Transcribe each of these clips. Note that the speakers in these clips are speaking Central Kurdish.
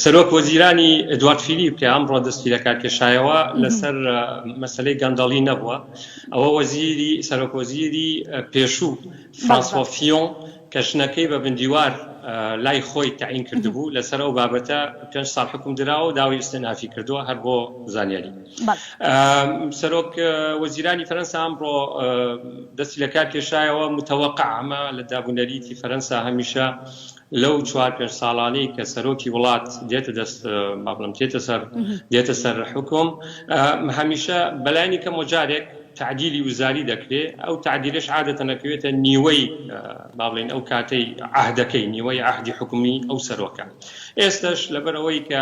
سەرۆک وەزیرانی ئەدوارد فیلیپ کە ئەمڕۆ دەستی لە کارکێشایەوە لەسەر مەسلەی گەندەڵی نەبووە ئەوە وەزیری سەرۆک وەزیری پێشوو فرانسۆفیۆن کە ژنەکەی بە بندیوار لای خۆی تعین کردبوو لەسەر ئەو بابەتە پێ ساڵ حکوم دراوە داوای استنافی کردووە هەر بۆ زانیاری سەرۆک وەزیرانی فەرەنسا ئەمڕۆ دەستی لە کار کێشایەوە متەوەقع ئەمە لە دابوونەریتی فەرەنسا هەمیشە لەو چوار پێنج ساڵانەی کە سەرۆکی وڵات دێتە دەست با بڵێم دێتە سەر دێتە سەر حوکم هەمیشە بەلایانی کەمەوە جارێک تعدیلی وزاری دەکرێ ئەو تعدیلش عادەتە نەکەوێتە نیوەی باڵێن ئەو کاتەی عهدەکەی نیوەی عهدی حکومی ئەو سەرۆکە ئێستش لەبەرەوەی کە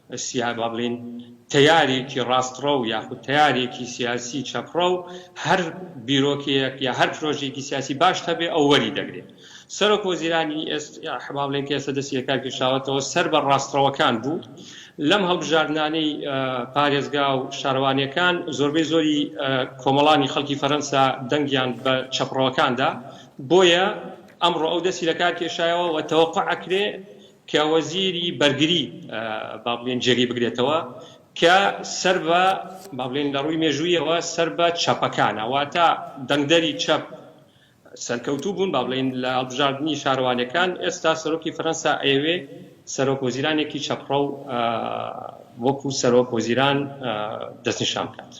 سیاه با بڵێین تەیارێکی ڕاستڕەو یاخود تەیارێکی سیاسی چەپڕەو هەر بیرۆکەیەک یا هەر پرۆژەیەکی سیاسی باش هەبێ ئەو وەری دەگرێت. سەرۆک وەزیرانی ئێستای با بڵێین کە ئێستا دەستی لە کار کێشاوەتەوە سەر بە ڕاستڕەوەکان بوو لەم هەڵبژاردنانەی پارێزگا و شارەوانییەکان زۆربەی زۆری کۆمەڵانی خەڵکی فەرەنسا دەنگیان بە چەپڕەوەکان دا بۆیە ئەمڕۆ ئەو دەستی لە کار کێشایەوە و تەوەقوع ئەکرێ کە وەزیری بەرگری با بڵێین جێگەی بگرێتەوە کە سەر بە با بڵێین لە ڕووی مێژوویەوە سەر بە چەپەکانە واتە دەنگدەری چەپ سەرکەوتوو بوون با بڵێین لە هەڵبژاردنی شارەوانیەکان ئێستا سەرۆکی فەرەنسا ئەیەوێ سەرۆک وەزیرانێکی چەپڕەو وەکو سەرۆک وەزیران دەستنیشان بکات.